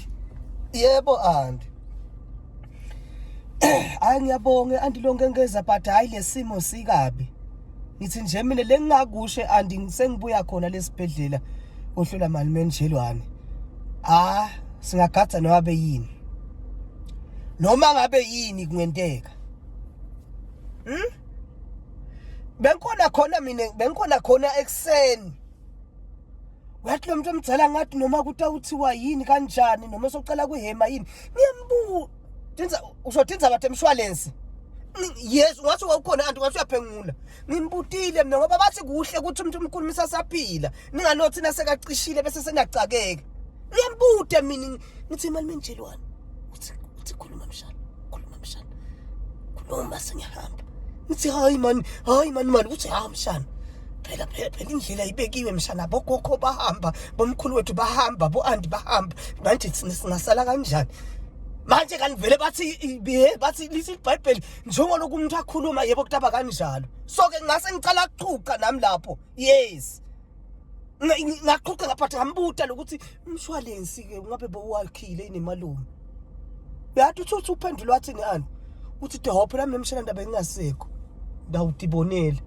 Anti. Yebo anti. Hayi ngiyabonga anti lonke ngeza but hayi lesimo sikabi. Ngithi nje mina lengingakushe anti ngisengibuya khona lesibhedlela ohlola mali menjelwane. Ah singagadza nowabe yini. Noma ngabe yini kungenteka. Hmm? Bengikhona khona mina bengikhona khona ekseni. wathi lo muntu omdala ngathi noma kuthi awuthiwa yini kanjani noma socela kuhema yini ngiyambuka tinza uzothi inzaba temshwalense yes ungathi wawukhona kanti ungathi uyaphengula ngimbutile mina ngoba bathi kuhle ukuthi umuntu umkhulumisa saphila ninganothi nasekacishile bese senacakeka ngiyambude mina Ngithi imali menjelwani? Uthi uthi khuluma mshana, khuluma mshana. Khuluma sengihamba. Ngithi hayi man, hayi man mali uthi ha mshana. Phela phela phela indlela ibekiwe mshana bogogo bahamba, bomkhulu wethu bahamba, boandi bahamba. Manje thina singasala kanjani? Manje kanivele bathi ibihe bathi lithi iBhayibheli njengolokhu umuntu akhuluma yebo kutaba kanjalo. So ke ngase ngicala ukuqhuqa nami lapho. Yes. ngaqoqa ngaphatha ngambuta lokuthi umshwalensi ke ngabe bowakhile inemalume yathi uthi uthi uphendula wathi ni ani uthi dehopho lami nemshela ndaba engasekho ndawudibonela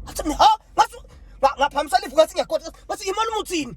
athi ha ngathi ngaphambisa lifu ngathi ngiyakhohlwa ngathi imali umuthini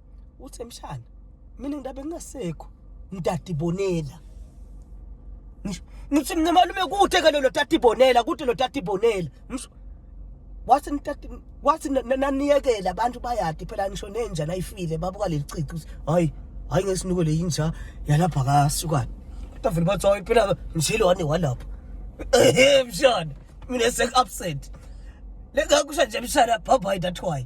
Uthi mshana mina ngidabe ngingasekho mdadi bonela. Ngisho ngithi mina malume kude ke lo tati bonela kude lo tati bonela. Ngisho wathi nitati wathi na- na- naniyekele abantu bayadi phela ngisho nenja nayifile babuka leli cici ukuthi hayi hayi ngesinuko le yinja yalapha kasukani kodwa vele bathi hayi phela mshilo wani walapha ehe mshana mina sek absent lengakusho nje mshana bhabhayi that why